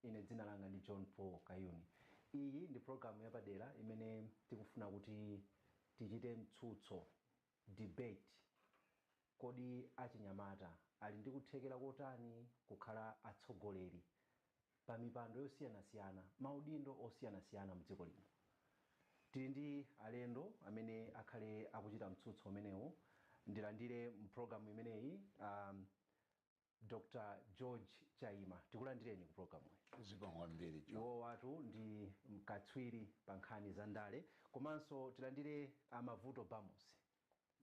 Ine dzina langa ndi John Paul Kayuni. Iyi ndi program yapadera imene tikufuna kuti tichite mtsutso, debate, kodi achinyamata ali ndi kuthekera kotani kukhala atsogoleri pa mipando yosiyanasiyana, maudindo osiyanasiyana mdziko lino. Tili ndi alendo amene akhale akuchita mtsutso umenewu. Ndilandire mu program imeneyi. Dr George Chaima tikulandireni ku programuyi. Zikomo kwambiri John. Iwowatu ndi mkatswiri pa nkhani za ndale komanso tilandire a Mavuto Bamusi.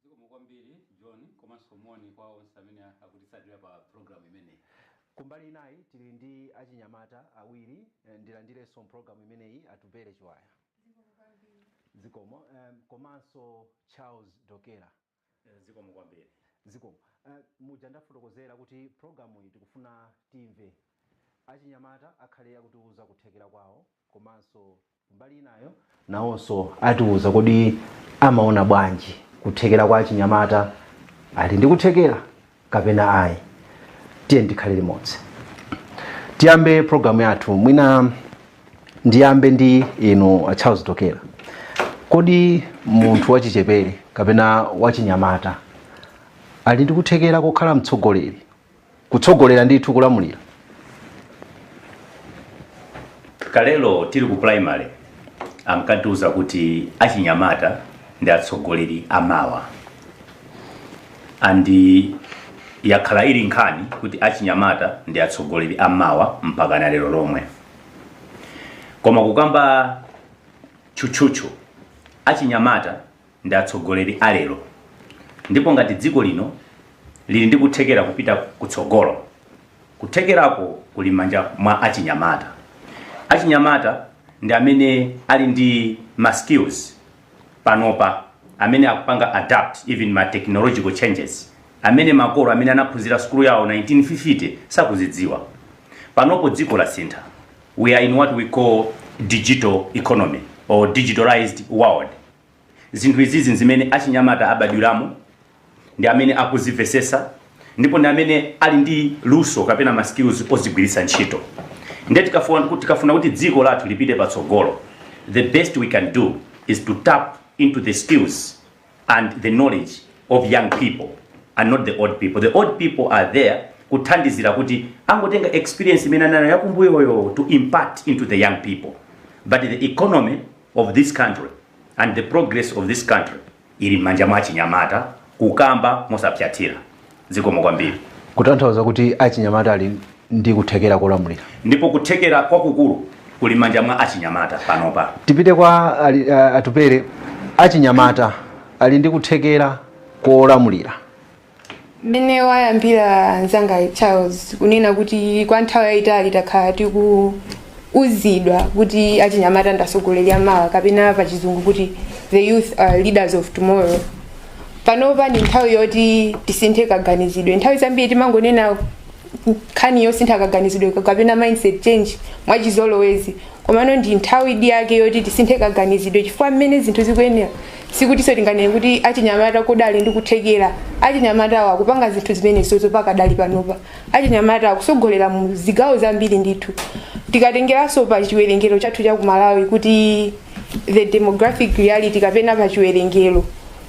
Zikomo kwambiri John komanso moni kwa onse amene akutitsatira pa programu imeneyi. Kumbali inayi tili ndi achinyamata awiri ndilandirenso m'programu imeneyi Atupele Chiwaya. Zikomo kwambiri. Zikomo komanso Charles Dokera. Zikomo kwambiri. Zikomo. Muja ndafotokozera kuti programuyi tikufuna timve achinyamata akhale akutiuza kuthekera kwawo komanso kumbali inayo nawonso atiuza kodi amaona bwanji kuthekera kwa achinyamata ali ndi kuthekera kapena ayi tiyeni tikhale limodzi tiyambe programu yathu mwina ndiyambe ndi inu a charles dokera kodi munthu wachichepere kapena wachinyamata ali ndi kuthekera kokhala mtsogoleri kutsogolera ndithu kulamulira kalelo tili ku primary ankatiuza kuti achinyamata ndi atsogoleri amawa andi yakhala ili nkhani kuti achinyamata ndi atsogoleri amawa mpaka na lero lomwe koma kukamba tchutchutchu achinyamata ndi atsogoleri a lero ndipo ngati dziko lino lili ndi kuthekera kupita kutsogolo, kuthekerako kuli m'manja mwa achinyamata. Achinyamata ndi amene ali ndi ma skills panopa amene akupanga adapt even ma technological changes amene makolo amene anaphunzira skulu yawo 1950 sakuzidziwa. Panopo dziko lasintha, we are in what we call digital economy or digitalized world. Zinthu izizi nzimene achinyamata abadwiramo, ndi amene akuzivesesa ndipo ndi amene ali ndi luso kapena ma skills ozigwiritsa ntchito. Nde tikafua kut tikafuna kuti dziko lathu lipite patsogolo the best we can do is to tap into the skills and the knowledge of young people and not the old people. The old people are there kuthandizira kuti angotenga experience imene anali nayo yakumbuyoyo to impart into the young people but the economy of this country and the progress of this country ili m'manja mwa achinyamata kukamba mosapsatira zikomo kwambiri kutanthauza kuti achinyamata ali ndi kuthekera kolamulira ndipo kuthekera kwakukulu kuli m'manja mwa achinyamata panopa tipite kwa ali- a- atupere achinyamata ali ndi kuthekera kolamulira mmene wayambira mzanga charles kunena kuti kwa nthawi yayitali takhala tikuuzidwa kuti achinyamata ndasogoleri amawa kapena pa chizungu kuti the youth are leaders of tomorrow panopa ndi nthawi yoti tisinthe kaganizidwe nthawi zambiri timangonena nkhani yosintha kaganizidwe kapena mindset change mwachizolowezi komano ndi nthawidi yake yoti tisinthe kaganizidwe chifukwa mmene zinthu zikuyendera sikutinso tinganene kuti achinyamata kodi ali ndi kuthekera achinyamatawo akupanga zinthu zimenezozo pakadali panopa achinyamata akusogolera mu zigawo zambiri ndithu tikatengeranso pa chiwerengero chathu cha kumalawi kuti the demographic reality kapena pa chiwerengero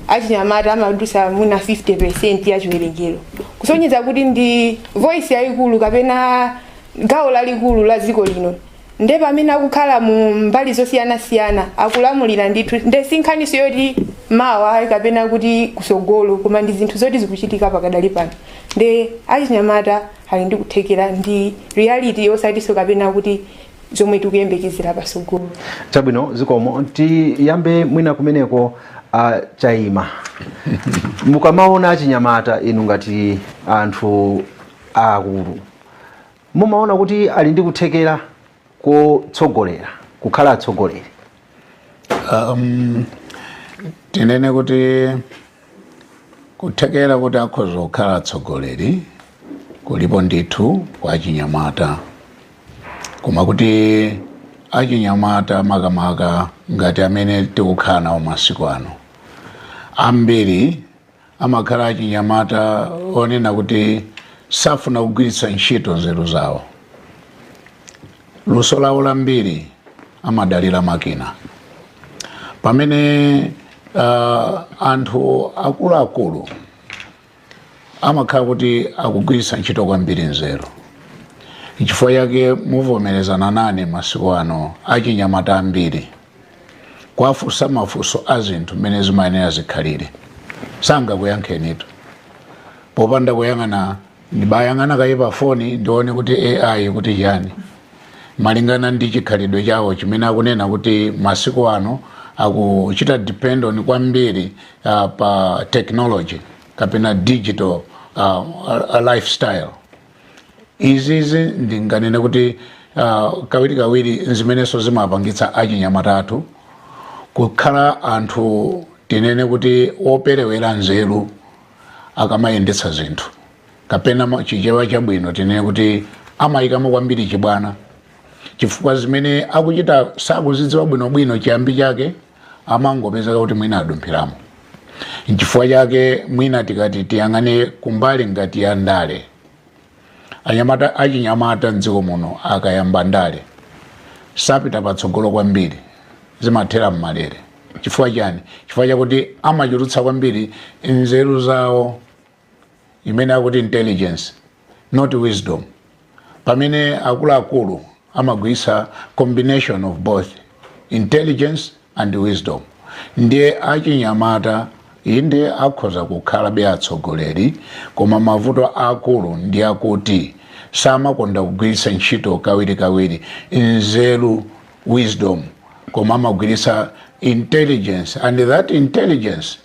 achinyamata amadusa muna 50 percent ya chiwerengero kusonyeza kuti ndi voice yayikulu kapena gawo lalikulu la dziko lino nde pamene akukhala mu mbali zosiyanasiyana akulamulira ndithu nde sinkhaniso yoti mawa ayi kapena kuti kusogolo koma ndi zinthu zoti zikuchitika pakadali pano nde achinyamata ali ndi kuthekera ndi reality osatiso kapena kuti zomwe tikuyembekezera pasogolo chabwino zikomo tiyambe mwina kumeneko a Chaima mukamaona achinyamata inu ngati anthu aakulu Mumaona kuti ali ndi kuthekera kotsogolera, kukhala atsogoleri? Um, tinene kuti kuthekera kuti akhoza kukhala atsogoleri kulipo ndithu kwa achinyamata koma kuti achinyamata makamaka ngati amene tikukhala nawo masiku ano ambiri amakhala achinyamata onena kuti safuna kugwiritsa ntchito nzeru zawo luso lawo lambiri amadalira makina pamene uh, anthu akuluakulu amakhala kuti akugwiritsa ntchito kwambiri nzeru chifukwa chake muvomerezana nane masiku ano achinyamata ambiri kuwafunsa mafunso a zinthu mmene zimayenera zikhalire sangakuyankhenitu popanda kuyang'ana ndibayang'ana kaye pa foni ndione kuti AI ikuti chiyani malingana ndi chikhalidwe chawo chimene akunena kuti masiku ano akuchita depend on kwambiri uh, pa technology kapena digital uh, lifestyle izizi ndinganene kuti uh, kawirikawiri zimenenso zimapangitsa achinyamata athu kukhala anthu tinene kuti operewera nzeru akamayendetsa zinthu kapena ma- chichewa chabwino tinene kuti amayikamo kwambiri chibwana chifukwa zimene akuchita sakuzidziwa bwinobwino chiyambi chake amangopezeka kuti mwina adumphiramo nchifukwa chake mwina tikati tiyang'ane kumbali ngati ya ndale anyamata achinyamata mdziko muno akayamba ndale sapita patsogolo kwambiri zimathera mmalere chifukwa chani chifukwa chakuti amachulutsa kwambiri nzeru zawo imene akuti intelligence not wisdom pamene akuluakulu amagwiritsa combination of both intelligence and wisdom ndiye achinyamata inde akhoza kukhalabe atsogoleri koma mavuto akulu ndi akuti samakonda kugwiritsa ntchito kawirikawiri nzeru wisdom koma amagwiritsa intelligence and that intelligence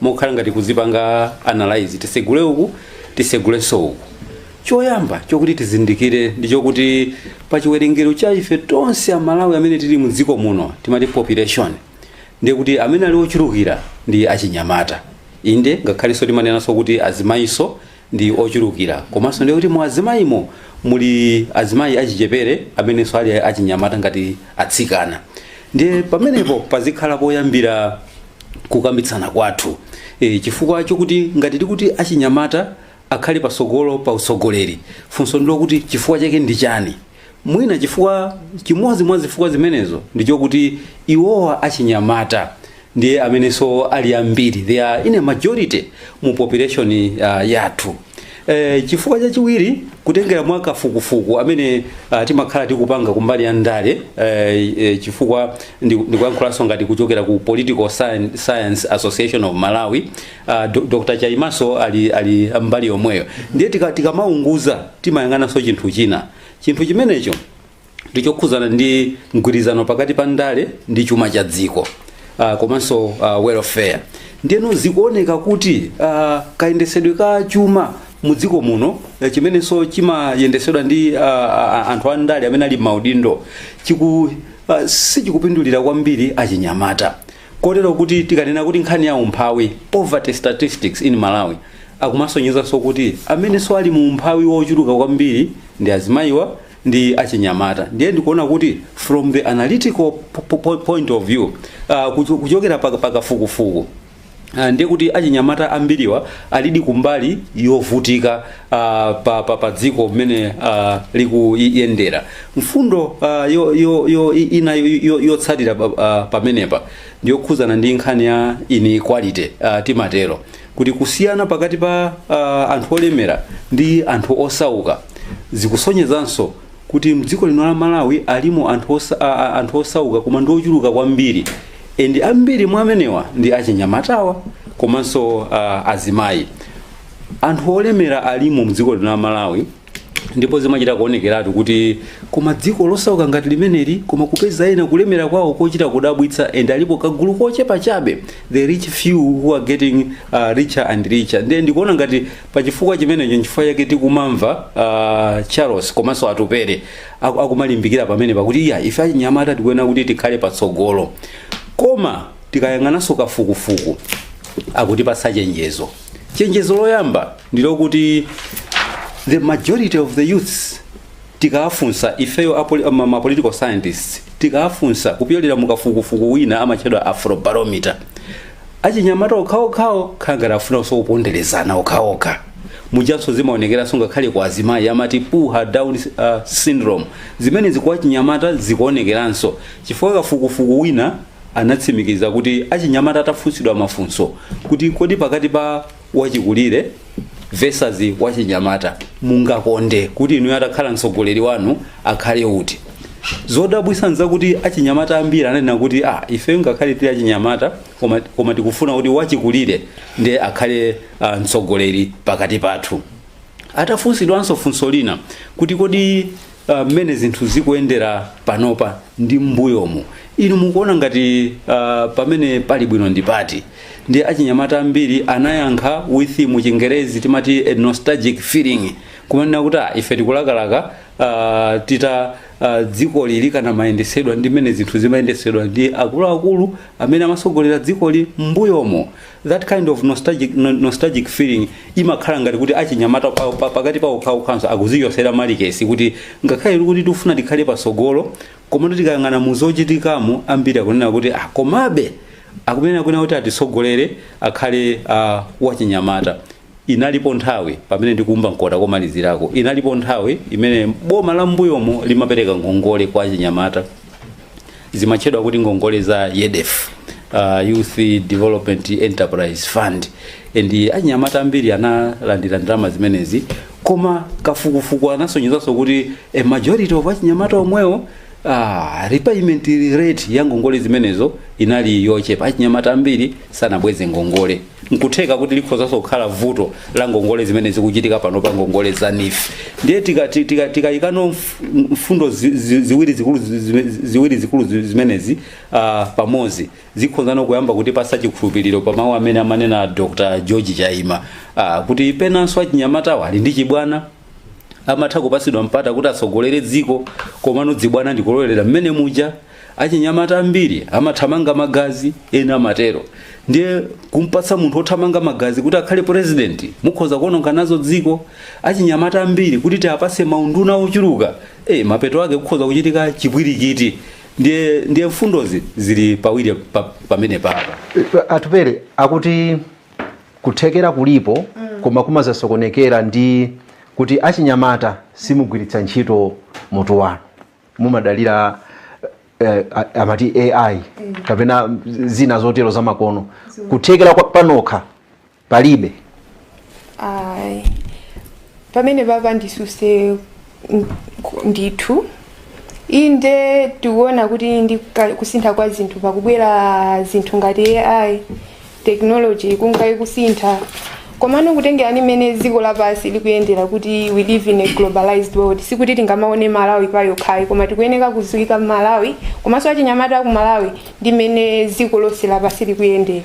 mokhala ngati kuzipanga analyze tisegule uku tisegulenso uku choyamba chokuti tizindikire ndi chokuti pa chiwerengero cha ife tonse amalawi amene tili mu dziko muno timati population ndiye kuti amene ali ochulukira ndi achinyamata inde ngakhalenso timanenanso kuti azimayinso ndi ochulukira komanso ndiye kuti mu azimayimo muli azimayi achichepere amenenso ali achinyamata ngati atsikana ndiye pamenepo pazikhala poyambira kukambitsana kwathu e, chifukwa chokuti ngati tikuti achinyamata akhale pasogolo pa utsogoleri funso ndilokuti chifukwa chake ndi chani mwina chifukwa chimodzi mwa zifukwa zimenezo ndichokuti iwowa achinyamata ndiye amenenso ali ambiri they are in a majority mu population uh, yathu e, chifukwa chachiwiri kutengera mwa kafukufuku amene uh, timakhala tikupanga kumbali ya ndale eh, eh, chifukwa ndi- ndikuyankhulanso ngati kuchokera ku political Scien- science association of malawi Uh, do, Dr. Chaimaso ali, ali mbali yomweyo ndiye tika- tikamaunguza tika timayang'ananso chinthu china chinthu chimenecho ndichokhuzana ndi mgwirizano pakati pa ndale ndi chuma cha dziko uh, komanso uh, welfare ndiyeno zikuoneka kuti uh, kayendesedwe ka chuma mu dziko muno eh, chimenenso chimayendesedwa ndi uh, anthu a ndale amene ali m'maudindo chiku uh, sichikupindulira kwambiri achinyamata Kotero kuti tikanena kuti nkhani ya umphawi, poverty statistics in Malawi, akumasonyezanso kuti amenenso ali mu umphawi wochuluka kwambiri ndi azimayiwa ndi achinyamata. Ndiye ndikuona kuti from the analytical po- po- po- point of view, uh, kucho- kuchokera pa pa kafukufuku Ah, ndiye kuti achinyamata ambiriwa alidi kumbali yovutika ah, pa, pa, pa dziko mmene ah, likuyendera mfundo ah, yo, yo, yo, i- ina yo- yo- yotsatira pa- ah, pamenepa ndiyokhuzana ndi nkhani ya inequality ah, timatero kuti kusiyana pakati pa ah, anthu olemera ndi anthu osauka zikusonyezanso kuti mdziko lino la malawi alimo anthu, osa, a, a, anthu osauka koma ndi ochuluka kwambiri and ambiri mwa amenewa ndi achinyamatawa komanso ah, azimayi anthu olemera alimo mdziko lino la malawi ndipo zimachita kuonekeratu kuti koma dziko losauka ngati limeneli koma kupeza ena kulemera kwawo kochita kudabwitsa and alipo kagulu kochepa chabe the rich few who are getting uh, richer and richer ndiye ndikuona ngati pa chifukwa chimenecho nchifukwa chake tikumamva uh, charles komanso atupere aku- akumalimbikira pamene pakuti iya ife achinyamata tikuyenera kuti tikhale patsogolo koma tikayang'ananso kafukufuku akutipasa chenjezo chenjezo loyamba ndilokuti the majority of the youths tikawafunsa ifeyo apoli- ma- ma political scientists tikawafunsa kupyolera mukafukufuku wina amatchedwa afrobarometer achinyamata okhaokhawo khala ngati afunanso kuponderezana okhaokha mujanso zimaonekeranso ngakhale kwa azimayi amati pull her down uh, syndrome zimene ziti kwa achinyamata zikuonekeranso chifukwa kafukufuku wina anatsimikiza kuti achinyamata atafunsidwa mafunso kuti kodi pakati pa wachikulire versus wachinyamata mungakonde kuti inuyo atakhala mtsogoleri wanu akhale uti zodabwisa nzakuti achinyamata ambiri ananena kuti ah, ife ngakhale tili achinyamata koma, koma tikufuna kuti wachikulire ndiye akhale uh, mtsogoleri pakati pathu atafunsidwanso funso lina kuti kodi uh, mmene zinthu zikuyendera panopa ndi m'mbuyomu inu mukuona ngati uh, pamene pali bwino ndi pati ndi achinyamata ambiri anayankha with mu chingerezi timati a nostalgic feeling kumanena kuti "Ah, ife tikulakalaka uh, tita uh, dzikoli likanamayendetsedwa ndi mmene zinthu zimayendetsedwa ndi akuluakulu amene amatsogolera dzikoli m'mbuyomo that kind of nostalgic, no- nostalgic feeling imakhala ngati kuti achinyamata pa- pa- pakati pawo pawokhanso akuzichosera malikesi kuti ngakhale tikuti tikufuna tikhale patsogolo koma tikayang'ana muzochitikamo ambiri akunena kuti ah, komabe akumenera kunena kuti atitsogolere akhale uh, wachinyamata Inalipo nthawi pamene ndikuumba mkota komalizirako, inalipo nthawi imene boma la m'mbuyomo limapereka ngongole kwa achinyamata, zimatchedwa kuti ngongole za YEDEF, uh, Youth Development Enterprise Fund, and achinyamata ambiri analandira ndalama zimenezi, koma kafukufuku anasonyezanso kuti a majority of achinyamata omwewo Ah, repayment rate ya ngongole zimenezo inali yochepa achinyamata ambiri sanabweze ngongole Nkutheka kuti likhozanso kukhala vuto la ngongole zimene zikuchitika panopa, ngongole za neef. Ndiye tikayikano mfundo ziwiri zikulu zimenezi pamodzi, zikhoza no kuyamba kutipatsa chikhulupiliro pa mau amene amanena Dr George Chaima kuti penanso achinyamatawa ali ndi chibwana. amatha kupatsidwa mpata kuti atsogolere dziko komano zibwana ndikulowerera mmene muja achinyamata ambiri amathamanga magazi ena amatero ndiye kumpatsa munthu othamanga magazi kuti akhale purezidenti mukhoza kuononga nazo dziko achinyamata ambiri kuti tiwapatse maunduna ochuluka e, mapeto ake kukhoza kuchitika chipwirikiti ndiye mfundozi zili pawiri pa- pamene baba Atupele akuti Kuthekera kulipo koma kumazasokonekera ndi kuti achinyamata simugwiritsa ntchito mutu wanu. Mumadalira eh, a- amati AI kapena zina zotero zamakono. Kuthekera kwa panokha palibe. Ayi. Pamene baba ndisutse ndithu inde tikuona kuti ndi ka- kusintha kwa zinthu pakubwera zinthu ngati ai technology ikungayikusintha komano kutengera ndi mmene dziko lapansi likuyendera kuti we live in a globalized world sikuti tingamaone malawi pa yokhayi koma tikuyeneka kudziika Malawi komanso achinyamata aku malawi ndi mmene dziko lonse lapansi likuyendera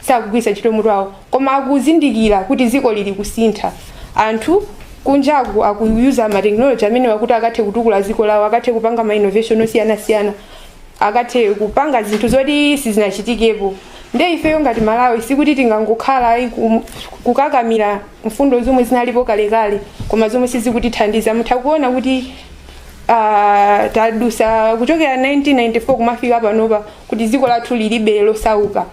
sakugwiritsa ntchito mutu wawo koma akuzindikira kuti dziko lili kusintha anthu kunjaku akuyuza ma technology amenewa kuti akathe kutukula dziko lawo akathe kupanga ma innovation osiyanasiyana akathe kupanga zinthu zoti sizinachitikepo nde ifeyo ngati malawi sikuti tingangokhala ayi kum- kukakamira mfundo zomwe zinalipo kalekale koma zomwe sizikutithandiza mutha kuona kuti ah, tadutsa kuchokera 1994 kumafika panopa kuti dziko lathu lilibe losauka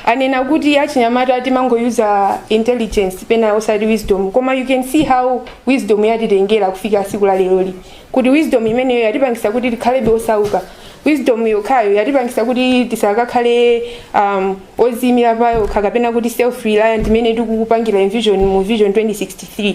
anena kuti achinyamata timangoyuza intelligence pena osati wisdom koma you can see how wisdom yatitengera kufika tsiku la leroli kuti wisdom imeneyo yatipangitsa kuti tikhalebe osauka wisdom yokhayo yatipangitsa kuti tisakakhale um, odziimira payokha kapena kuti self reliant imene tikuipangira envision mu vision 2063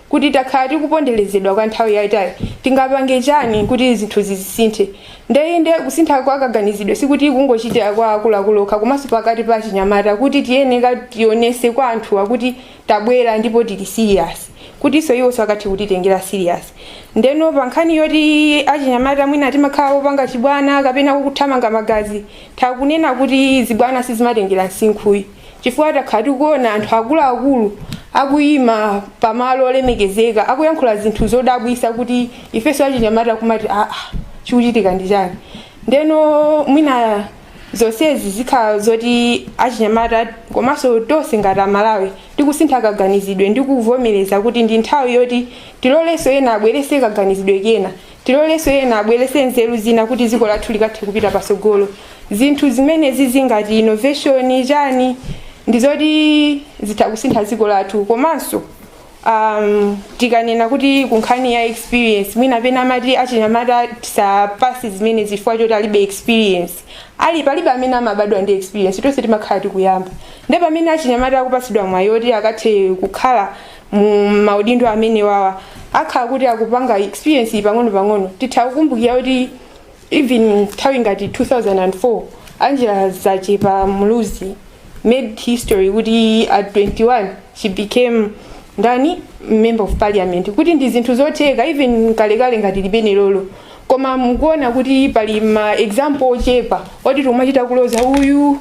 kuti takhala tikuponderezedwa kwa nthawi yaitali tingapange chani kuti zinthu zizisinthe nde inde kusintha kwa kaganizidwe sikuti kungochitira kwa akuluakulu okha komanso pakati pa achinyamata kuti tiyeneka tionetse kwa anthuwa kuti tabwera ndipo tili serious kutinso iwonso akathe kutitengera serious ndeno pa nkhani yoti achinyamata mwina timakhala opanga chibwana kapena kuthamanga magazi nditha kunena kuti zibwana sizimatengera msinkhu ayi chifukwa takhala tikuona anthu akuluakulu akuyima pamalo olemekezeka akuyankhula zinthu zodabwisa kuti ifenso achinyamata kumati aa chikuchitika ndi chani ndeno mwina zonsezi zikhala zoti achinyamata komanso tonse ngati amalawi tikusintha kaganizidwe ndi kuvomereza kuti ndi nthawi yoti tilolenso ena abwerese kaganizidwe kena Tilolenso ena abweretse nzeru zina kuti dziko lathu likathe kupita patsogolo. Zinthu zimenezi zingati innovation chani ndi zoti zitha kusintha dziko lathu komanso um, tikanena kuti kunkhani ya experience mwina pena amati achinyamata tisapasidwe chifukwa choti alibe experience palibe amene amabadwa ndi experience tonse timakhala tikuyamba nde pamene achinyamata akupatsidwa mwayi oti akathe kukhala mu maudindo amenewawa akhala kuti akupanga experience iyi pang'ono pang'ono titha kukumbukira kuti even nthawi ngati 2004 angela zachepa muluzi made history kuti at 21 she became ndani member of parliament kuti ndi zinthu zotheka even kalekale ngati limene lolo koma mukuona kuti pali ma example ochepa oti tikumachita kuloza uyu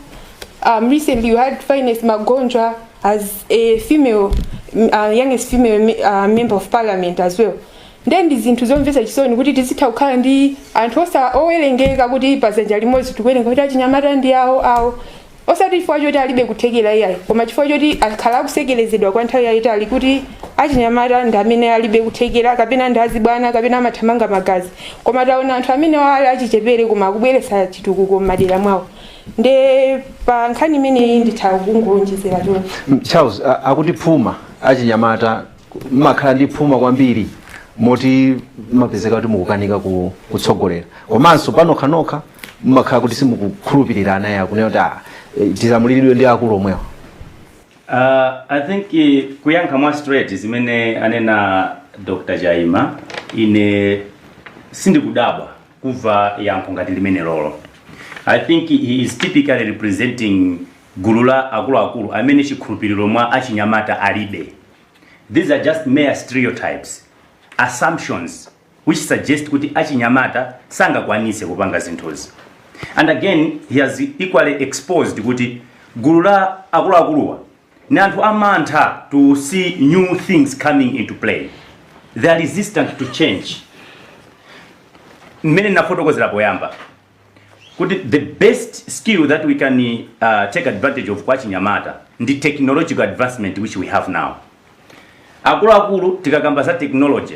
um, recently you had fyness magonjwa as a female uh, youngest female me- uh, member of parliament as well nde ndi zinthu zomvetsa chisoni kuti tizitha kukhala ndi anthu osa owerengeka kuti pazanja limodzi tikuwerenga kuti achinyamata ndi awo awo osati chifukwa choti alibe kuthekera iyayi koma chifukwa choti akhala akusekerezedwa kwa nthawi yayitali kuti achinyamata ndi amene alibe kuthekera kapena ndi azibwana kapena amathamanga magazi koma taona anthu amene ali achichepere koma akubweretsa chitukuko m'madera mwawo nde pa nkhani imeneyi nditha kungowonjezera choncho Mm, charles a- akuti phuma achinyamata mmakhala ndi phuma kwambiri moti mmapezeka kuti mukukanika ku- kutsogolera komanso panokhanokha mmakhala kuti simukukhulupirirana nayenso akunena kuti "Ah, eh, tilamuliridwe ndi akulu omwewa Uh, I think eh, kuyankha mwa straight zimene anena Dr. Chaima ine sindikudabwa kumva yankho ngati limenelolo. I think he is typically representing gulu la akuluakulu amene chikhulupiriro mwa achinyamata alibe. These are just mere stereotypes, assumptions which suggest kuti achinyamata sangakwanise kupanga zinthuzi. And again, he has equally exposed kuti gulu la akuluakuluwa Ndi anthu amantha to see new things coming into play. They are resistant to change. Mmene nafotokozera poyamba kuti the best skill that we can uh, take advantage of kwa achinyamata ndi technological advancement which we have now. Akuluakulu tikakamba za technology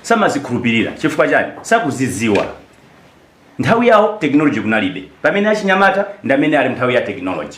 samazikhulupirira chifukwa chani sakuziziwa nthawi yawo technology kunalibe pamene achinyamata ndi amene ali nthawi ya technology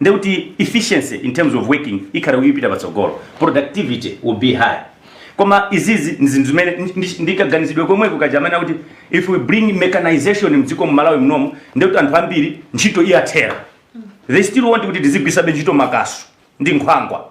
ndiye kuti efficiency in terms of working ikhala ikupita patsogolo, productivity will be high. Koma izizi ndi zinthu zimene ndi- ndi- ndi kaganizidwe komweko kaja amene akuti if we bring mechanization mdziko mu Malawi munomu ndiye kuti anthu ambiri ntchito iyathera. They still want kuti tizigwiritsabe ntchito makasu ndi nkhwangwa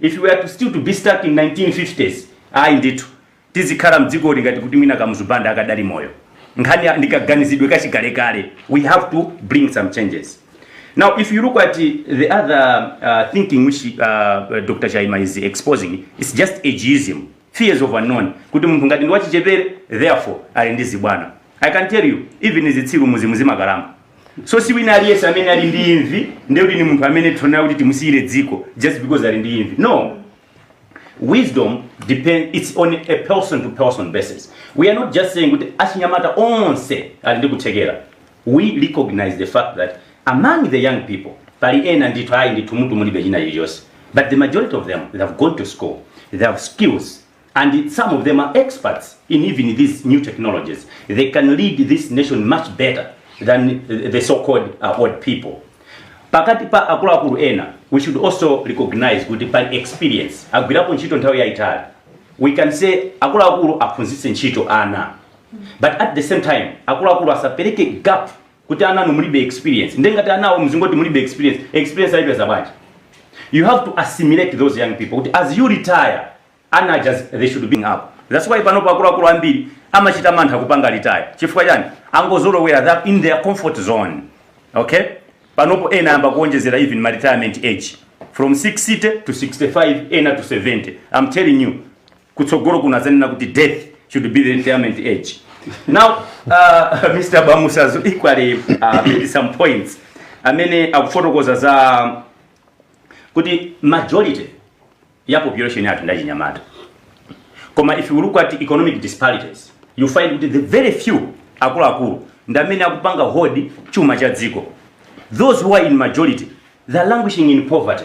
If we are to still to be stuck in 1950s ayi ndithu tizikhala mdzikoli ngati kuti mwina Kamuzu Banda akadali moyo. Nkhani ya- ndi kaganizidwe kachikalekale. We have to bring some changes. Now if you look at the other uh, thinking which uh, Dr. Chaima is exposing, it's just ageism, fears of unknown. Kuti munthu ngati ndi wachichepere, therefore ali ndi zibwana. I can tell you, even zitsiru muzimu zimakalamba. so si wina aliyense amene ali ndi imvi ndiye kuti ni munthu amene tiyenera kuti timusiyire dziko just because ali ndi imvi no wisdom depend it's on a person to person basis we are not just saying kuti achinyamata onse ali ndi kuthekera we recognize the fact that among the young people pali ena ndithu ayi ndithu mutu mulibe china chilichonse but the majority of them they have gone to school they have skills and some of them are experts in even these new technologies they can lead this nation much better than uh, the so called uh, old people pakati pa akuluakulu ena we should also recognize kuti pa experience agwirapo ntchito nthawi yaitali we can say akuluakulu aphunzitse ntchito ana but at the same time akuluakulu asapereke gap kuti ananu mulibe experience nde ngati anawo mzingoti mulibe experience experience ayipeza bwanji you have to assimilate those young people kuti as you retire ana aja they should be up that's why panopo akuluakulu ambiri amachita mantha kupanga retire chifukwa chani angozolowera that in their comfort zone okay panopo ena ayamba kuonjezera even ma retirement age from 60 to 65 ena to 70 i'm telling you kutsogolo kuno azanena kuti death should be the retirement age now uh, mr bamusi azo equally uh, made some points amene akufotokoza za kuti majority ya population yathu ndachinyamata koma if you look at economic disparities you find kuti the very few akuluakulu ndi amene akupanga hold chuma cha dziko those who are in majority they're languishing in poverty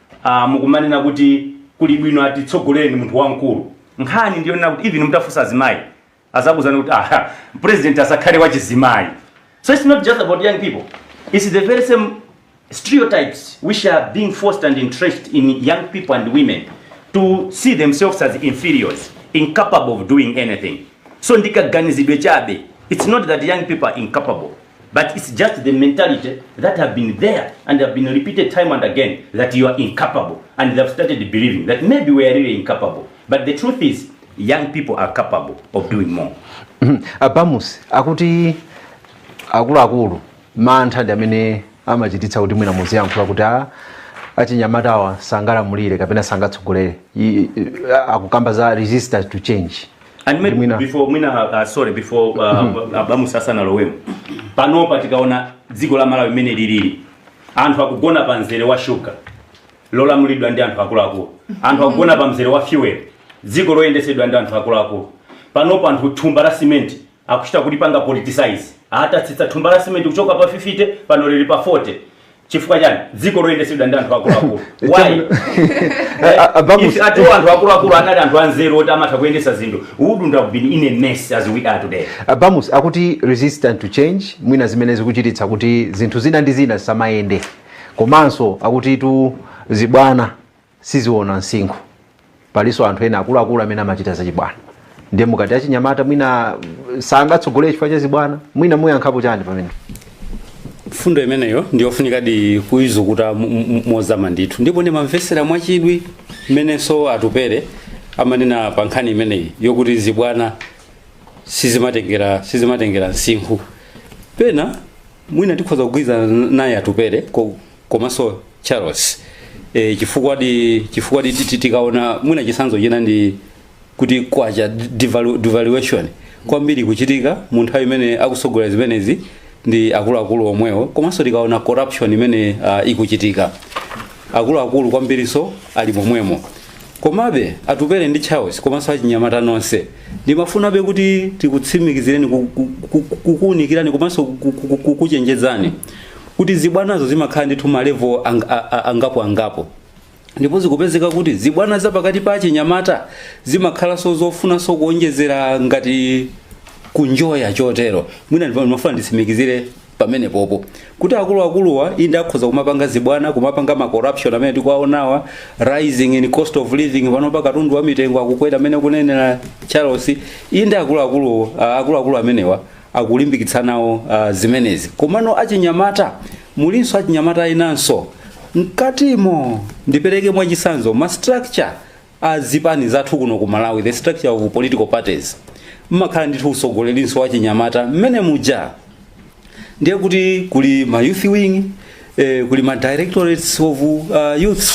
Ah, mukumanena kuti kuli bwino atitsogoleni munthu wamkulu nkhani ndi yonena kuti even mutafunsa azimayi azakuuzani kuti ah president asakhale wa chizimayi so it's not just about young people it's the very same stereotypes which are being forced and entrenched in young people and women to see themselves as inferiors incapable of doing anything so ndikaganizidwe chabe it's not that young people are incapable but its just the mentality that have been there and have been repeated time and again that you are incapable and they have started believing that maybe we are really incapable but the truth is young people are capable of doing more mm-hmm. a Bamusi akuti akuluakulu mantha ndi amene amachititsa kuti mwina muziyankhula kuti a ah, achinyamatawa sangalamulire kapena sangatsogolere akukamba za resistance to change And maybe Mwina. before mwina uh, sorry before uh, a Bamusi asanalowemo panopa tikaona dziko la malawi mmene lilili anthu akugona pa mzere wa shuga lolamulidwa ndi anthu akuluakulu anthu akugona pa mzere wa fuel dziko loyendesedwa ndi anthu akuluakulu panopa anthu thumba la simenti Akuchita kulipanga politicize. Atatsitsa thumba la simenti kuchoka pa 50 pano lili pa 40. Chifukwa chani? Dziko loyendesedwa ndi anthu akuluakulu. Why? If at all anthu akuluakulu anali anthu anzeru oti amatha kuyendesa zinthu, we wouldn't have been in a mess as we are today. A Bamusi akuti resistant to change mwina zimene zikuchititsa kuti zinthu zina ndi zina zisamayende. Komanso akuti tu zibwana siziona msinkhu palinso anthu ena akuluakulu amene amachita zachibwana ndiye mukati achinyamata mwina sangatsogolere chifukwa cha zibwana mwina muyankhapo chani pamene mfundo imeneyo ndiyofunikadi kuizukuta mo- mo- mozama ndithu ndipo ndimamvetsera mwachidwi mmenenso atupere amanena pa nkhani imeneyi yokuti zibwana sizimatengera sizimatengera msinkhu pena mwina tikhoza kugwirizana naye atupere ko- komanso charles e, chifukwadi chifukwadi titi tikaona mwina chisanzo china ndi kuti kwacha devalu- devaluation kwambiri ikuchitika mu nthawi imene akutsogola zimenezi ndi akuluakulu omwewo komanso tikaona corruption imene uh, ikuchitika akuluakulu kwambirinso ali momwemo komabe atupere ndi charles komanso achinyamata nonse ndimafunabe kuti tikutsimikizireni ku- ku- ku- kukuunikirani komanso ku- ku- ku- kukuchenjezani kuti zibwanazo zimakhala ndithu ma level ang, a, a, angapo angapo ndipo zikupezeka kuti zibwana za pakati pa achinyamata zimakhalanso zofunanso kuonjezera ngati kunjoya chotero mwina ndipo ndimafuna nditsimikizire pamenepopo kuti akuluakuluwa inde akhoza kumapanga zibwana kumapanga ma corruption amene tikuwaonawa rising in cost of living panopa katundu wa mitengo akukwera amene akunenera charles inde akuluakulu ah, akuluakulu amenewa akulimbikitsa nawo uh, zimenezi komano achinyamata mulinso achinyamata enanso mkatimo ndipereke mwachisanzo ma structure a zipani zathu kuno ku malawi the structure of political parties mmakhala ndithu usogolerinso wachinyamata mmene muja ndiye kuti kuli ma youth wing eh, kuli ma directorates of uh, youth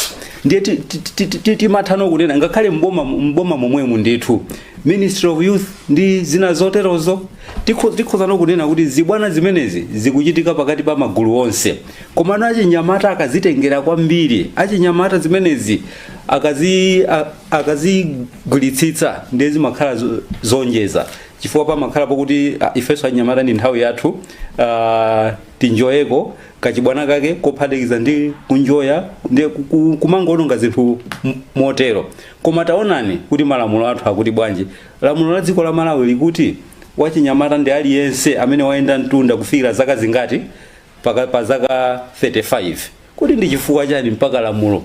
ndiye ti- ti- ti- ti- ti- timathano kunena ngakhale mboma mboma momwemu ndithu ministry of youth ndi zina zoterozo tikho- tikhozano kunena kuti zibwana zimenezi zikuchitika pakati pa magulu onse komano achinyamata akazitengera kwambiri achinyamata zimenezi akazi a- akazigwiritsitsa ndiye zimakhala zo- zonjeza chifukwa pamakhala pakuti ah, ifenso achinyamata ndi nthawi yathu ah, tinjoyeko kachibwana kake kophatikiza ndi kunjoya ndi ku- ku- kumangoononga zinthu m- motero koma taonani kuti malamulo athu akuti bwanji lamulo la dziko la malawi likuti wachinyamata ndi aliyense amene wayenda mtunda kufikira zaka zingati pa- pa zaka 35 Kodi ndi chifukwa chani mpaka lamulo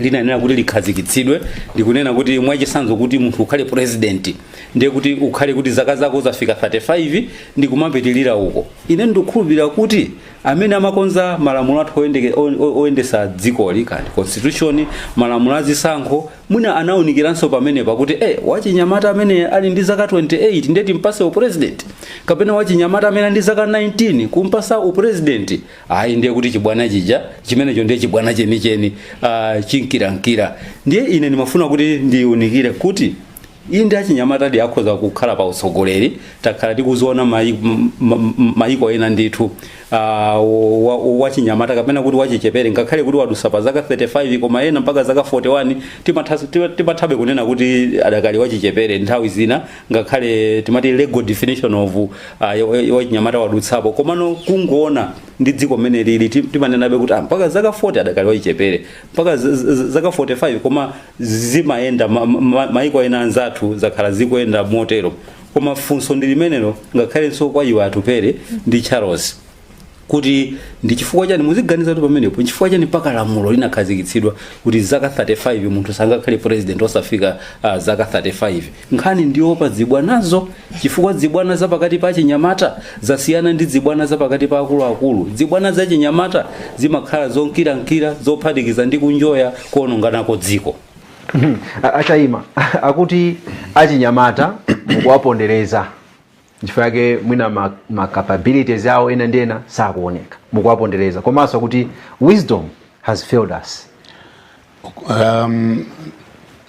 linayenera kuti likhazikitsidwe ndikunena kuti mwachisanzo kuti munthu ukhale president ndiye kuti ukhale kuti zaka zako zafika 35 ndi kumapitilira uko ine ndikukhulupirira kuti amene amakonza malamulo athu oyendeke- o- o- oyendesa dzikoli kaya ndi constitution malamulo azisankho mwina anaunikiranso pamenepa kuti eh wachinyamata amene ali ndi zaka 28 ndiye timpase upresident kapena wachinyamata amene ali ndi zaka 19 kumpasa upresident ayi ndiye kuti chibwana chija chimenecho ndiye chibwana chenicheni uh, chinkirankira ndiye ine ndimafuna kuti ndiunikire kuti inde achinyamatadi akhoza kukhala pa utsogoleri takhala tikuziona mayi- m- m- mayiko ena ndithu ah, wa- wa- wachinyamata kapena kuti wachichepere ngakhale kuti wadusa pa zaka 35 koma ena mpaka zaka 41 timatha- tima- timathabe kunena kuti adakali wachichepere nthawi zina ngakhale timati legal definition of uh, wachinyamata wadutsapo komano kungoona ndi dziko mmene lili ti- timanenabe kuti ah, mpaka zaka 40 adakali wachichepere mpaka z- z- z- zaka 45 koma zimayenda ma- ma- maiko ena anzathu zakhala zikuyenda motero koma funso ndi limenelo ngakhalenso kwa iwo atupele ndi charles kuti ndi chifukwa chani muziganiza kuti pamenepo nchifukwa chani mpaka lamulo linakhazikitsidwa kuti zaka 35 munthu sangakhale president osafika uh, zaka 35 nkhani ndiopa dzibwanazo chifukwa dzibwana za pakati pa achinyamata zasiyana ndi dzibwana za pakati pa akuluakulu dzibwana za chinyamata zimakhala zonkirankira zophatikiza ndi kunjoya kuononganako dziko a- a Chaima akuti achinyamata mukuwapondereza nchifukwa yake mwina ma, ma capabilities awo ena ndi ena sakuoneka mukuwapondereza komanso kuti wisdom has failed us um,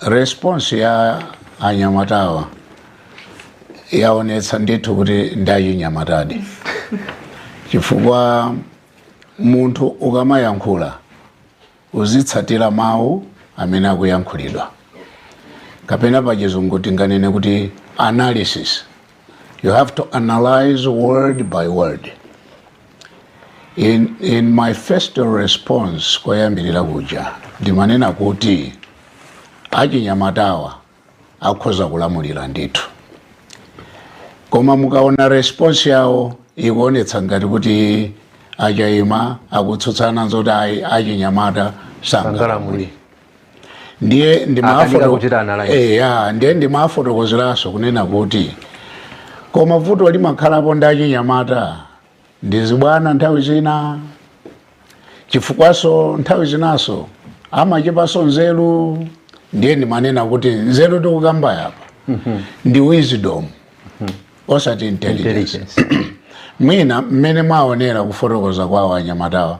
response ya anyamatawa yaonetsa ndithu kuti ndachinyamatadi chifukwa munthu ukamayankhula Uzitsatira mawu amene akuyankhulidwa, kapena pachizungu tinganene kuti analysis. You have to analyze word by word. In, in my first response koyambirira kuja ndimanena kuti achinyamatawa akhoza kulamulira ndithu koma mukaona response yawo ikuonetsa ngati kuti achaima akutsutsana nzoti achinyamata sangalamulire sangalamuli ndiye Akanika ndimafoto- kuchita analyze. Eh, ya, ndiye ndimafotokozeraso kunena kuti koma vuto limakhalapo ndi achinyamata ndi zibwana nthawi zina chifukwaso nthawi zinaso amachepaso nzeru ndiye ndimanena kuti nzeru tikukambayi apa ndi wisdom osati intelligence Intelligence. mwina mmene mwaonera kufotokoza kwawo anyamatawa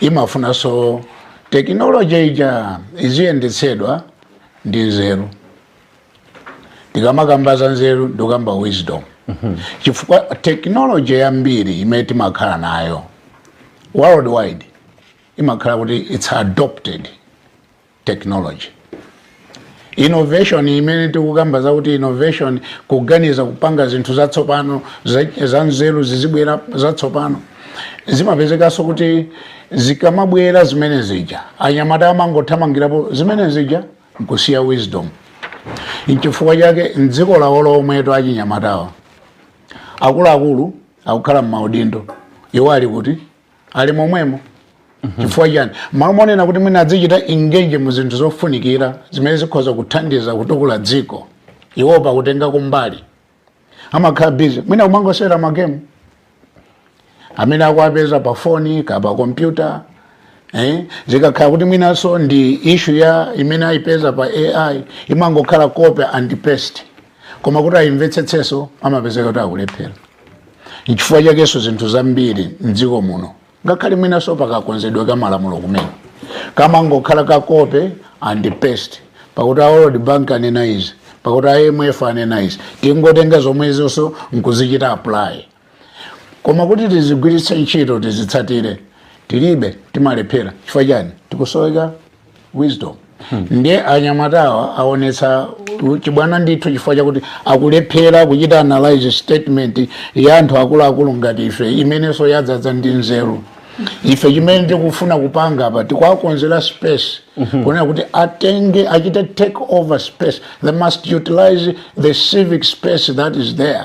imafunanso technology ija iziyendetsedwa ndi nzeru tikamakamba za nzeru ndikukamba wisdom mhm. chifukwa technology yambiri imene timakhala nayo worldwide imakhala kuti it's adopted technology. Innovation imene tikukamba zakuti innovation kuganiza kupanga zinthu zatsopano zanzeru zizibwera zatsopano zimapezekanso kuti zikamabwera zimene zija anyamatawa amangothamangirapo zimene zija nkusiya wisdom nchifukwa chake mdziko lawo lomweto achinyamatawa akuluakulu akukhala mmaudindo iwo ali kuti ali momwemo mhm. chifukwa chani malo monena kuti mwina adzichita engage mu zinthu zofunikira zimene zikhoza kuthandiza kutukula dziko iwo pakutenga kumbali amakhala busy mwina kumangosewera magemu amene akuwapeza pa foni kapena pa kompyuta eh? zikakhala kuti mwinanso ndi issue ya imene ayipeza pa AI imangokhala copy and paste koma kuti ayimvetsetseso amapezeka kuti akulephera Nchifukwa chakenso zinthu zambiri mdziko muno ngakhale mwinanso pakakonzedwe ka malamulo kumene kamangokhala ka copy and paste pakuti a World Bank anena izi pakuti a IMF anena izi tingotenga zomwezonso nkuzichita apply koma kuti tizigwiritse ntchito tizitsatire tilibe timalephera chifukwa chani tikusoweka wisdom ndiye anyamatawa aonetsa chibwana ndithu chifukwa chakuti akulephera kuchita analyze statement ya anthu akuluakulu ngati ife imenenso yadzadza ndi nzeru ife chimene tikufuna kupanga apa tikuwakonzera space kunena kuti atenge achite take over space they must utilize the civic space that is there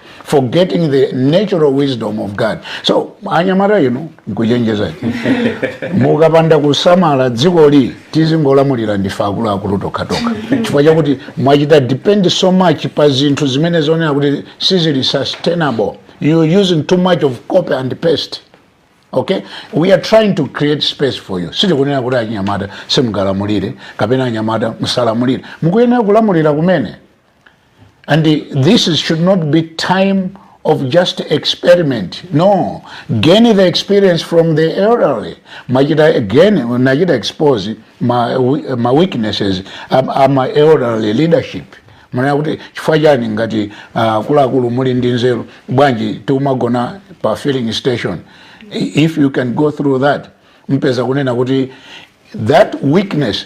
forgetting the natural wisdom of god so anyamata inu nkuchenjezani mukapanda kusamala dzikoli tizingolamulira ndife akuluakulu tokhatokha chifukwa chakuti mwachita depend so much pa zinthu zimene zikuoneka kuti sizili sustainable you're using too much of copy and paste okay we are trying to create space for you sitikunena kuti achinyamata simungalamulire kapena anyamata musalamulire mukuyenera kulamulira kumene And this should not be time of just experiment. No, gain the experience from the elderly. Nachita again, nachita expose ma, ma weaknesses, a ma, a ma elderly leadership. munene kuti chifukwa chani ngati uh, akuluakulu muli ndi nzeru bwanji tikumagona pa filling station if you can go through that mpeza kunena kuti that weakness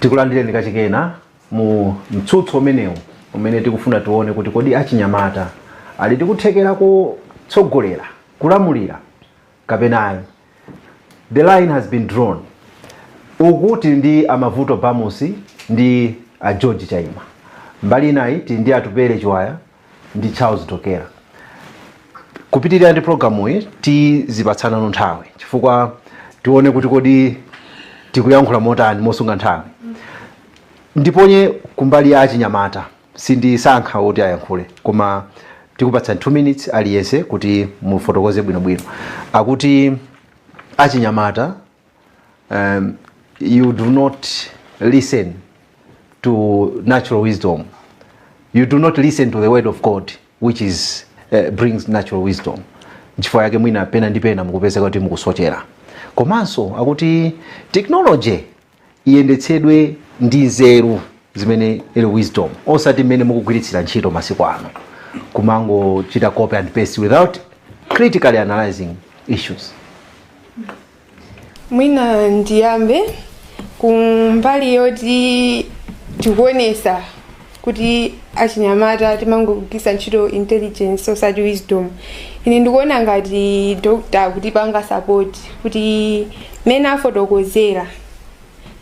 tikulandireni kachikenanso mu mtsutso umenewu umene tikufuna tione kuti kodi achinyamata ali ndi kuthekera kutsogolera kulamulira kapena ayi the line has been drawn uku tili ndi a mavuto bamusi ndi a george chaima mbali inayi tili ndi atupele chirwa ndi charles dokera kupitirira ndi programu iyi tizipatsanano nthawi chifukwa tione kuti kodi tikuyankhula motani mosunga nthawi ndiponye kumbali ya achinyamata sindisankha oti ayankhule koma tikupatsani 2 minutes aliyense kuti mufotokoze bwinobwino akuti achinyamata um, you do not listen to natural wisdom you do not listen to the word of god which is uh, brings natural wisdom nchifukwa yake mwina pena ndi pena mukupezeka kuti mukusochera komanso akuti technology iyendetsedwe ndi nzeru zimene ili wisdom osati mmene mukugwiritsira ntchito masiku ano kumangochita copy and paste without critically analyzing issues mwina ndiyambe kumbali yoti tikuonesa kuti achinyamata timangogwiritsa ntchito intelligence osati wisdom ine ndikuona ngati dokta akutipanga sapoti kuti mmene afotokozera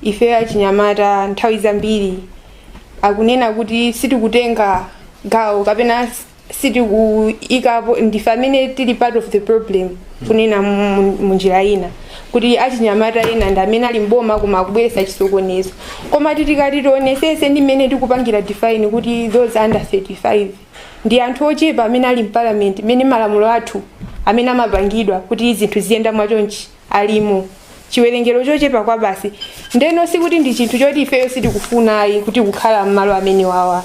ife achinyamata nthawi zambiri akunena kuti sitikutenga gawo kapena sitikuyikapo ndife amene tili part of the problem kunena mu- mu- munjira ina kuti achinyamata ena ndi amene ali mboma koma akubweretsa chisokonezo koma titikati tionesese ndi mmene tikupangira define kuti those under 35 ndi anthu ochepa amene ali mparliament mmene malamulo athu amene amapangidwa kuti zinthu ziyende mwachonchi alimo chiwerengero chochepa kwabasi ndeno sikuti ndi chinthu choti ifeyo sitikufuna ayi kuti kukhala m'malo amene awawa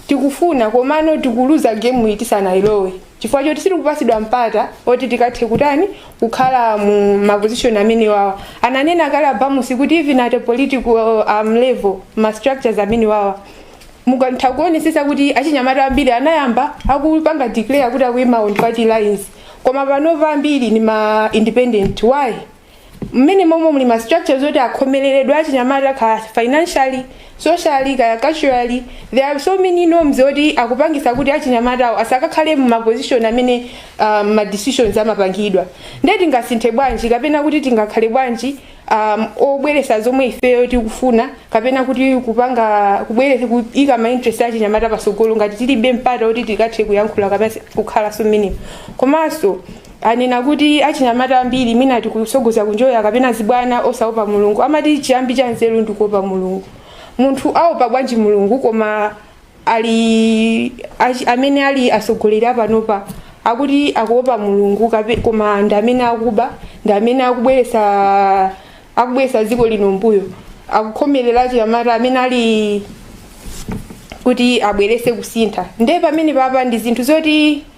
tikufuna komano tikuluza gemu iyi tisanayilowe chifukwa choti sitikupatsidwa mpata oti tikathe kutani kukhala mu mapozishoni amene awawa ananena kale a Bamusi kuti even at a political um, level ma structures amene awawa mukatha kuonesesa kuti achinyamata ambiri anayamba akupanga declare kuti akuima on party lines koma panopa ambiri ndi ma independent why mmene momwe muli ma structures oti akhomereredwe achinyamata kaya financially socially kaya culturally there are so many norms oti akupangisa kuti achinyamatawo asakakhale mma position amene um, ma decisions amapangidwa nde tingasinthe bwanji kapena kuti tingakhale bwanji um, obweresa zomwe ifeyo tikufuna kapena kuti kupanga kubweresa kuika ma interest achinyamata pasogolo ngati tilibe mpata oti tikathe kuyankhula kapena kukhalanso mmenemo komanso anena kuti achinyamata ambiri mwina tikusogoza kunjoya kapena zibwana osaopa mulungu amati chiyambi cha nzeru ndikuopa mulungu munthu aopa bwanji mulungu koma ali achi- amene ali atsogoleri apanopa akuti akuopa mulungu kape- koma ndi amene akuba ndi amene akubweretsa akubweretsa dziko lino mbuyo akukhomerera achinyamata amene ali kuti abweretse kusintha ndiye pamene papa ndi zinthu zoti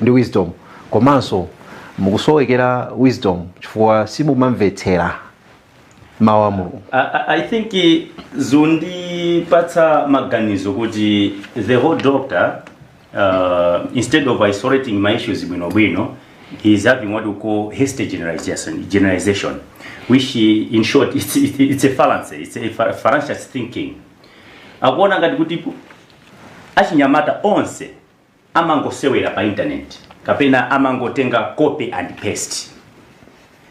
ndi wisdom komanso mukusowekera wisdom chifukwa simumamvetsera mawu a mulungu I, I- I think eh, zundipatsa maganizo kuti the whole doctor uh, instead of isolating ma issues bwinobwino he is having what we call hasty generalization, generalization which eh, in short it's, it's, it's a fallacy it's a fa- fallacious thinking akuona ngati kuti achinyamata onse amangosewera pa internet kapena amangotenga copy and paste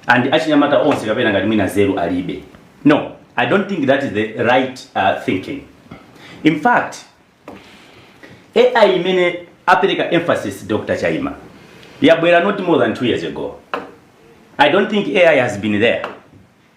and achinyamata onse kapena ngati mwina nzeru alibe no i don't think that is the right uh, thinking in fact ai imene apereka emphasis dr chaima yabwera not more than two years ago i don't think ai has been there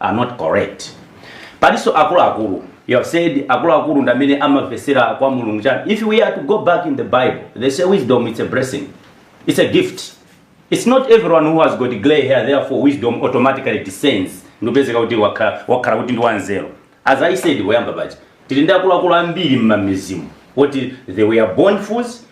are not correct palinso akuluakulu you have said akuluakulu ndamene amavesera kwa mulungu chani if we are to go back in the bible they say wisdom it's a blessing it's a gift it's not everyone who has got gray hair therefore wisdom automatically descends n'kupezeka kuti wakhala wakhala kuti ndi wanzeru as i said woyamba paja tili ndi akuluakulu ambiri mmamizimu woti they were born fools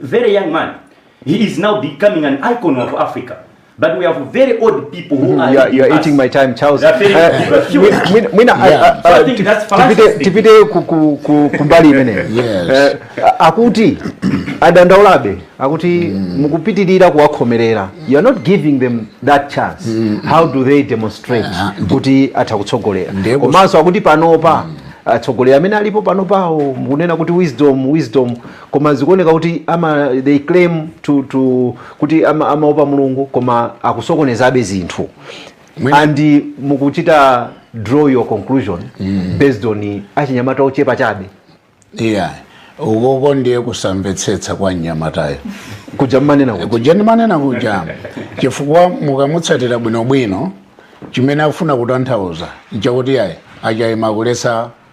very young man he is now becoming an icon of africa but we have very old people who mm-hmm. are you are, you are eating my time charles uh, mwina uh, uh, tipite kumbali imeneyi akuti adandaulabe akuti mm. mukupitirira kuwakhomerera you are not giving them that chance mm. how do they demonstrate ah, kuti atha kutsogolera komanso akuti panopa mm. atsogoleri amene alipo panopawo mukunena kuti wisdom wisdom koma zikuoneka kuti ama they claim to, to kuti ama- amaopa mulungu koma akusokonezabe zinthu Mwina- and mukuchita draw your conclusion based on achinyamata ochepa chabe yeah ukoko ndiye kusamvetsetsa kwa mnyamatayo kuja mmanena kuti kuja ndimanena kuja chifukwa mukamutsatira bwinobwino chimene akufuna kutanthauza nchakuti yayi a higher class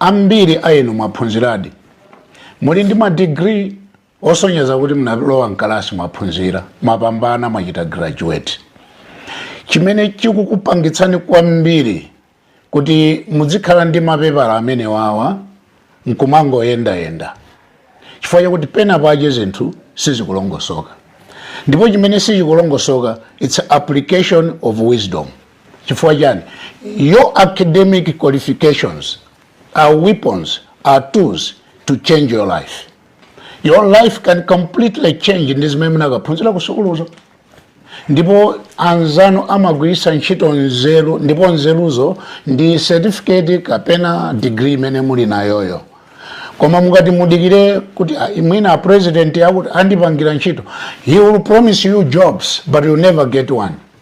Ambiri a enu mwaphunziradi. Muli ndi ma degree osonyeza kuti munalowa m'kalasi, mwaphunzira, mwapambana, mwachita graduate. Chimene chikukupangitsani kwambiri kuti mudzikhala ndi mapepala amenewawa nkumangoyendayenda chifukwa chakuti pena pache zinthu sizikulongosoka ndipo chimene sichikulongosoka it's application of wisdom chifukwa chani your academic qualifications are weapons are tools to change your life your life can completely change ndi zimene munakaphunzira ku sukuluzo ndipo anzanu amagwiritsa ntchito nzeru ndipo nzeruzo ndi certificate kapena degree imene muli nayoyo koma mukati mudikire kuti mwina a president akuti andipangira ntchito he will promise you jobs but you never get one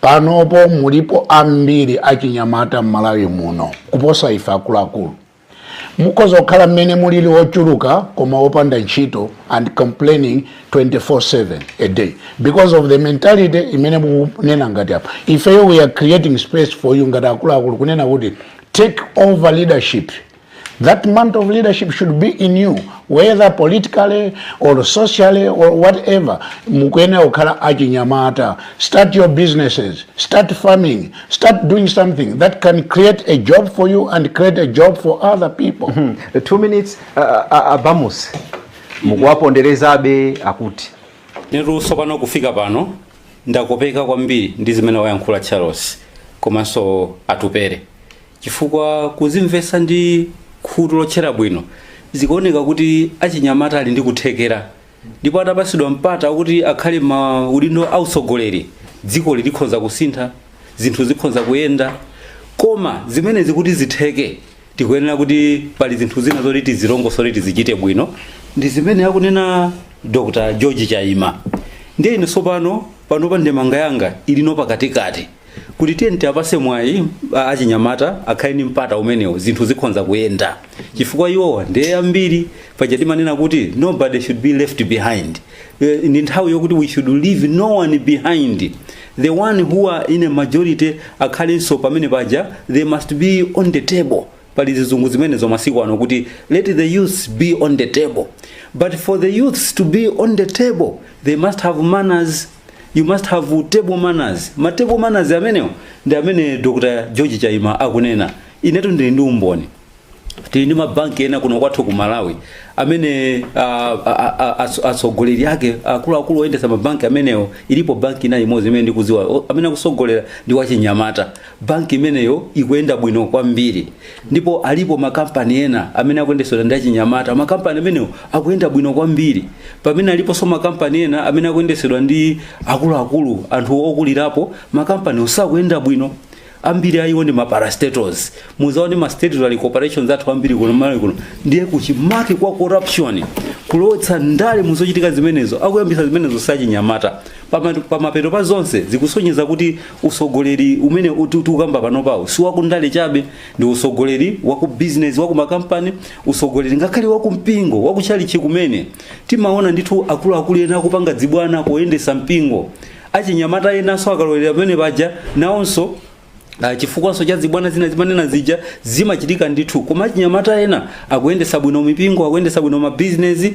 panopo mulipo ambiri achinyamata m'malawi muno kuposa ife akuluakulu mukhoza kukhala mmene mulili ochuluka koma opanda ntchito and complaining 24/7 a day because of the mentality imene mukunena ngati apa ifeyo we are creating space for you ngati akuluakulu kunena kuti take over leadership That mantle of leadership should be in you whether politically or socially or whatever. Mukuyenera kukhala achinyamata. Start your businesses, start farming, start doing something that can create a job for you and create a job for other people. Mm -hmm. Two minutes uh, uh, abambo Mussa mukuwaponderezabe akuti ine tsopano kufika pano ndakopeka kwambiri ndi zimene wayankhula Charles komanso atupere chifukwa kuzimvetsa ndi khutu lotchera bwino zikuoneka kuti achinyamata ali ndi kuthekera ndipo atapatsidwa mpata wakuti akhale ma udindo autsogoleri dziko lino likhoza kusintha zinthu zikhoza kuyenda koma zimenezi kuti zitheke tikuyenera kuti pali zinthu zina zoti tizilongosole tizichite bwino ndi zimene akunena dr george chaima ndiye ine tsopano panopa ndemanga yanga ilino pakatikati kuti tiyeni tiwapase mwayi a- achinyamata akhale ndi mpata umenewo zinthu zikhonza kuyenda chifukwa iwowa ndiye ambiri paja timanena kuti nobody should be left behind Eh, ndi nthawi yokuti we should leave no one behind the one who are in a majority akhalenso pamene paja they must be on the table pali zizungu zimenezo masiku ano kuti let the youths be on the table but for the youths to be on the table they must have manners you must have table manners ma table manners amenewo ndi amene dr george chaima akunena inetu ndili ndi umboni tili ndi mabanki ena kuno kwathu ku malawi amene ah, ah, ah, ah, atso- atsogoleri ake akuluakulu oyendetsa mabanki amenewo ilipo banki ina imodzi imene ndikuziwa o- amene akusogolera ndi wachinyamata Banki imeneyo ikuyenda bwino kwambiri ndipo alipo makampani ena amene akuyendetsedwa ndi achinyamata. Makampani amenewo akuyenda bwino kwambiri. Pamene aliponso makampani ena amene akuyendetsedwa ndi akuluakulu, anthu okulirapo, makampaniwo sakuyenda bwino. Ambiri a iwo ndi maparastatals. Mudzaone ma statutory corporations athu ambiri kuno m'Malawi kuno. Ndiye kuchimake kwa corruption, kulowetsa ndale mu zochitika zimenezo, akuyambitsa zimenezo si achinyamata. Pama- Pamapeto pa zonse zikusonyeza kuti Usogoleri umene tiukamba panopawu si wakundale chabe, ndi usogoleri wakubizinezi, wakumakampani, usogoleri ngakhale wakumpingo, wakutchalitchi kumene. Timaona ndithu akuluakulu ena akupanga dzibwana poyendetsa mpingo. Achinyamata enanso akalowera pamene paja nawonso Uh, chifukwanso cha zibwana zina timanena zija zimachitika ndithu, koma achinyamata ena akuyendetsa bwino mipingo, akuyendetsa bwino mabizinesi,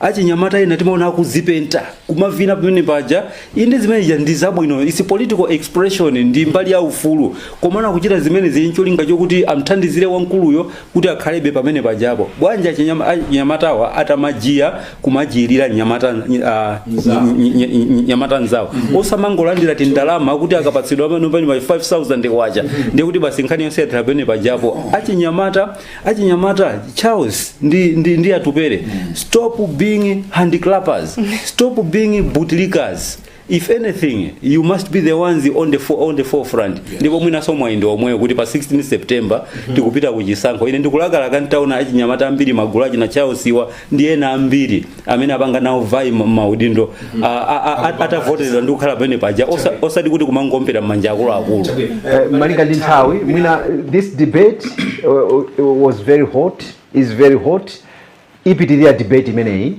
achinyamata ena timaona akuzipenta kumavina pamene paja inde zimene zija ndi zabwino is political expression ndi mbali ya ufulu komano akuchita zimenezi ncholinga chokuti amthandizire wamkuluyo kuti akhalebe pamene pajapo bwanji achinyama- achinyamatawa atamachiya kumachiyirira nyamata ah, Nzawo. ny- ny- ny- nyamata nzawo osamangolandira tindalama kuti akapatsidwa panopa ndi 5000 kwacha ndiye kuti basi nkhani yonse yathera pamene pajapo achinyamata achinyamata charles ndi, ndi, ndi atupere stop being handiclappers stop being bootlickers if anything you must be the ones on the, fo- on the forefront ndipo mwinaso mwayi ndi womwewo kuti pa 16 september tikupita ku chisankho ine ndikulakalaka ntaona achinyamata ambiri magulu achina charles iwa ndi ena ambiri amene apanga nawo vie ma- maudindo a- a- a- a- atavoteredwa ndi kukhala pamene paja osa- osati kuti kumangoombera m'manja akuluakulu Eh, malinga ndi nthawi mwina eh, this debate uh, uh, was very hot is very hot ipitirira debate imeneyi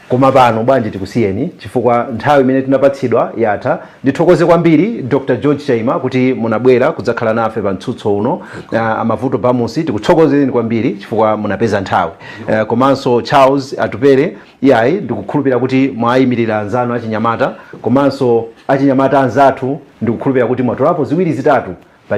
koma pano bwanji tikusiyeni chifukwa nthawi imene tinapatsidwa yatha Ndithokoze kwambiri Dr George Chaima kuti munabwera kudzakhala nafe pa mtsutso uno. Uh, a Mavuto Bamusi tikuthokozeni kwambiri chifukwa munapeza nthawi. Uh, komanso Charles Atupele iyayi ndikukhulupira kuti mwayimirira anzanu achinyamata komanso achinyamata anzathu ndikukhulupira kuti mwatolapo ziwiri zitatu